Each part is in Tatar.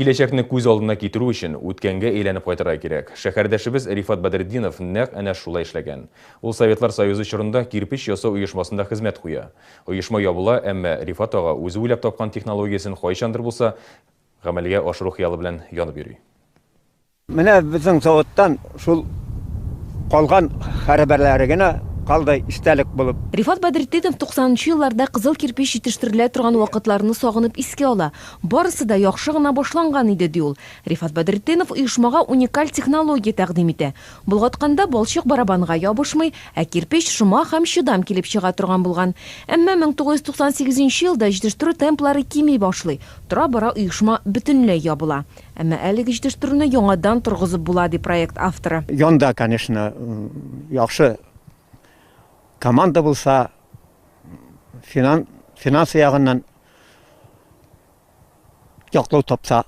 Киләчәкне күз алдына китерү өчен, үткәнгә әйләнеп кайтырга кирәк. Шәһәрдәшебез Рифат Бәдретдинов нәкъ әнә шулай эшләгән. Ул Советлар Союзы чорында кирпеч ясау оешмасында хезмәт куя. Оешма ябыла, әмма Рифат ага үзе уйлап тапкан технологиясен кайчандыр булса гамәлгә ашыру хыялы белән янып йөри. Менә безнең заводтан шул калган хәрабәләре генә калды истәлек булып. Рифат Бәдретдинов туксанынчы елларда кызыл кирпеч җитештерелә торган вакытларны сагынып искә ала. Барысы да яхшы гына башланган иде, ди ул. Рифат Бәдретдинов оешмага уникаль технология тәкъдим итә. Болгатканда балчык барабанга ябышмый, ә кирпеч шома һәм чыдам килеп чыга торган булган. Әмма 1998 нче елда җитештерү темплары кими башлый, тора-бара оешма бөтенләй ябыла. Әмма әлеге җитештерүне яңадан торгызып була, ди проект авторы. Янда, конечно, яхшы команда булса, финансы ягыннан яклау тапса,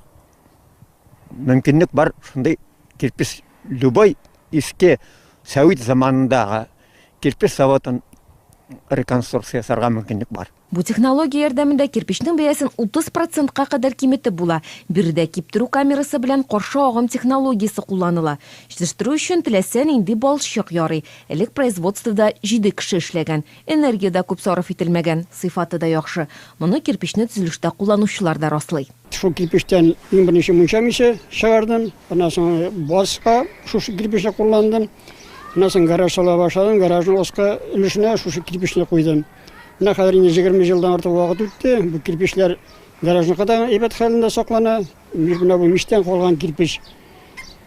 мөмкинлек бар, шундый кирпеч любой иске сәвит заманындагы кирпеч заводын реконструкция ясарга мөмкинлек бар. Бу технология ярдәмендә кирпечнең бәясен 30 процентка кадәр киметеп була. Биредә киптерү камерасы белән каршы агым технологиясе кулланыла. Җитештерү өчен теләсә нинди балчык ярый. Элек производствода җиде кеше эшләгән. Энергия дә күп сарыф ителмәгән, сыйфаты да яхшы. Моны кирпечне төзелештә кулланучылар да раслый. Шул кирпечтән иң беренче мунча миче чыгардым. Аннан соң базга шушы кирпечне кулландым. Аннан соң гараж сала башладым. Гаражның аскы өлешенә шушы кирпечне куйдым. Менә хәзер инде җигерме елдан артык вакыт үтте. Бу кирпечләр гаражның кадагы әйбәт хәлендә саклана. Менә бу мичтән калган кирпеч.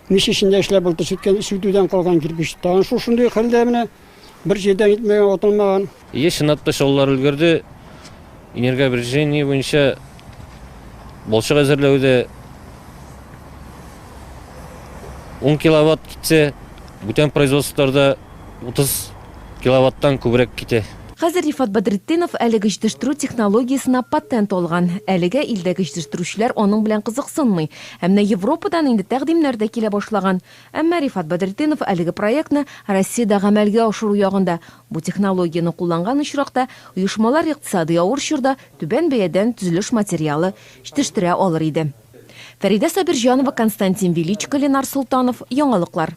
Мич эчендә эшләп булды, сүткән, сүтүдән калган кирпеч. Тагын шул шундый хәлдә менә бер җирдән итмәгән, атылмаган. Еш чынлатпа чалулар өлгерде. Энергообрежение буенча Балчык әзерләүдә 10 киловатт китсә, бүтән производстволарда 30 киловаттан күбрәк китә. Хәзер Рифат Бәдретдинов әлеге җитештерү технологиясенә патент алган. Әлегә илдәге җитештерүчеләр аның белән кызыксынмый. Ә менә Европадан инде тәкъдимнәр дә килә башлаган. Әмма Рифат Бәдретдинов әлеге проектны Россиядә гамәлгә ашыру ягында. Бу технологияне кулланган очракта, оешмалар икътисади авыр чорда түбән бәядән төзелеш материалы җтештерә алыр иде. Фәридә Сабирҗанова, Константин Величко, Ленар Солтанов, Яңалыклар.